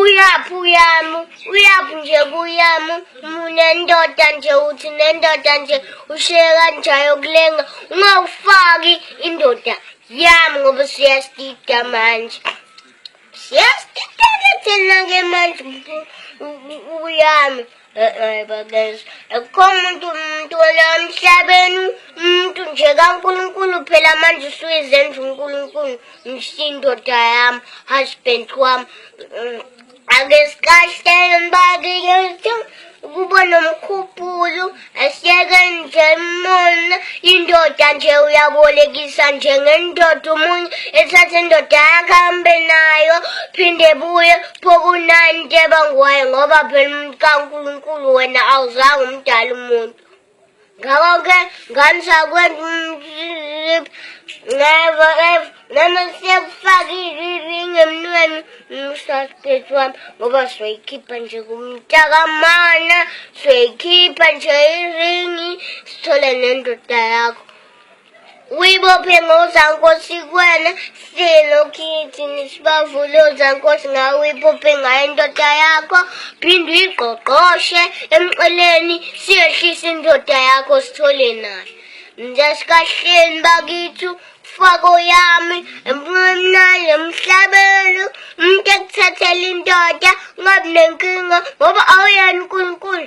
Uyaphi uyami, uyaphi nje kuyami, nendoda nje uthi nendoda nje ushiye kanjayo kulenga, ungawufaki indoda yami ngoba siyasida manje. Siyasida-ke thina-ke manje uyami. Babenza akukho muntu umuntu wala emhlabeni umuntu nje kaNkulunkulu phela manje usuyizenza uNkulunkulu msindoda yami husband wami mm, ake sikahlele mbakiyethu kuba nomkhuphulu asiyeke nje mona indoda nje uyabolekisa nje ngendoda umunye ethathe indoda yakhe ahambe nayo phinde buye Phokunani nteba ngwaye ngoba phela umuntu kaNkulunkulu wena awuzange umdala umuntu ngakho-ke ngani sakwenza umsizip never ever noma siyakufakile iringi emnweni umsasiphethi wami ngoba soyikhipha nje kumntakamana soyikhipha nje iringi sithole nendoda yakho Uyibophe ngozankosi kwena silo kithi nisibavule ozankosi ngawe uyibophe ngayo indoda yakho phinde uyigqogqoshe emxeleni siyehlise indoda yakho sithole nayo njasikahleni bakithu fako yami emnqamnani emhlabeni umuntu ekuthathela indoda ungabi nenkinga ngoba awuyena unkulunkulu